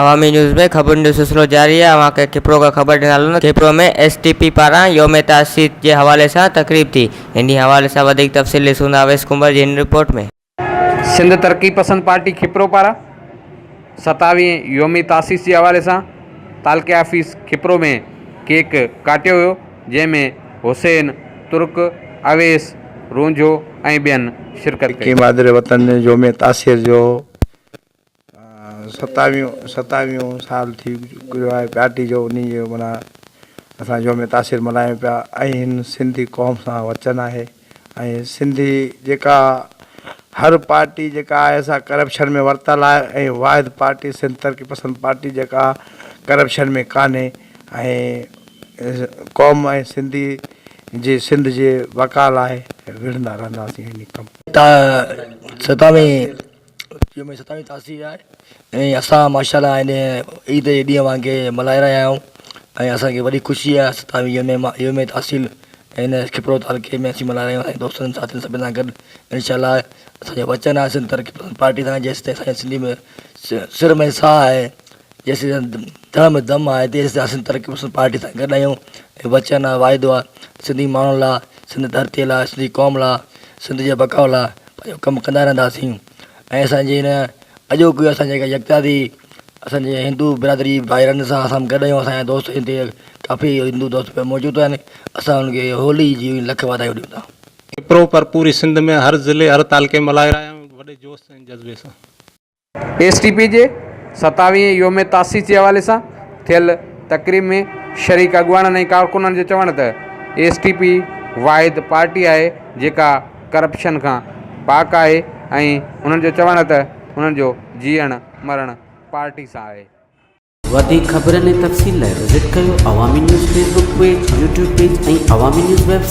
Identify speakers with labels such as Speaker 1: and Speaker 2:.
Speaker 1: Awami news ۾ خبرن جو سلسلو جاري آهي اوهان کي کپرو کان خبر ڏيندا هلون ته کپرو ۾ ايس ٽي پي پاران يوم تاسيس جي حوالي سان تقريب ٿي انهي حوالي سان وڌيڪ تفصيل ڏسون ٿا اويس ڪنڀر جي هن رپورٽ ۾. سنڌ
Speaker 2: ترقي پسند پارٽي کپرو پاران ستاويهين يوم تاسيس جي حوالي سان تعلقي آفيس کپرو ۾ ڪيڪ ڪاٽيو ويو جنهن ۾ حسين ترڪ، اويس رونجهو ۽ ٻين شرڪت ڪئي. ڪي مادر وطن يوم
Speaker 3: تاسيس جو ستاويهون ستاويهون سال ٿي گذريو آهي پارٽي جو انهي جو معنيٰ اسان يوم تاثير ملهايون پيا ۽ سنڌي قوم سان وچن آهي ۽ سنڌي جيڪا هر پارٽي جيڪا آهي سا ڪرپشن ۾ ورتل آهي ۽ واحد پارٽي سنڌ ترقي پسند پارٽي جيڪا ڪرپشن ۾ ڪانهي ۽ قوم ۽ سنڌي جي سنڌ جي بقا لاء وڙهندا رهنداسين ۽ ڪم ستاويهون
Speaker 4: اچيو ۾ ستاوي تاسي آهي ۽ اسان ماشا الله هن عيد جي ڏينهن وانگي ملهائي رهيا آهيون ۽ اسانکي وڏي خوشي آهي ستاوي يوم ما يوم تحصيل هن کپرو تعلقي ۾ اسين ملهائي رهيا آهيون ۽ دوستن ساٿين سڀني سان گڏ انشاء الله اسانجو وچن آهي سنڌ ترقي پسند پارٽي سان جيستائين اسان سنڌي ۾ سر ۾ ساهه آهي جيسيتائين دڙ ۾ دم آهي تيسيتائين اسين ترقي پسند پارٽي سان گڏ آهيون ۽ وچن آهي واعدو آهي سنڌي ماڻهن لاء سنڌ ڌرتي لاء سنڌي قوم لاء سنڌ جي بقاء لاء پنهنجو ڪم ڪندا رهنداسين ۽ اسانجي هن اڄوڪي اسان جي جيڪا يڪتا ٿي اسانجي هندو برادري ڀائرن سان اسان گڏ آهيون اسان جا دوست هتي ڪافي هندو دوست پڻ موجود آهن اسان انهن کي هولي جي لک واڌايون ڏيون ٿا ڪپرو پر
Speaker 5: پوري سنڌ ۾ هر ضلعي هر تعلقي ۾ ملهائي رهيا آهيون وڏي جوش ۽ جذبي سان. ايس ٽي
Speaker 2: پي جي ستاويهين يوم تاسيس جي حوالي سان ٿيل تقريب ۾ شريڪ اڳواڻن ۽ ڪارڪنن جو چوڻ ته ايس ٽي پي واحد پارٽي آهي جيڪا ڪرپشن کان پاڪ آهي ۽ انهن جو چوڻ ته انهن جو جيئڻ مرڻ پارٽي سان آهي. وڌيڪ
Speaker 6: خبرن ۽ تفصيل لاء وزٽ ڪريو Awami news Facebook page, YouTube page ۽ Awami news web site.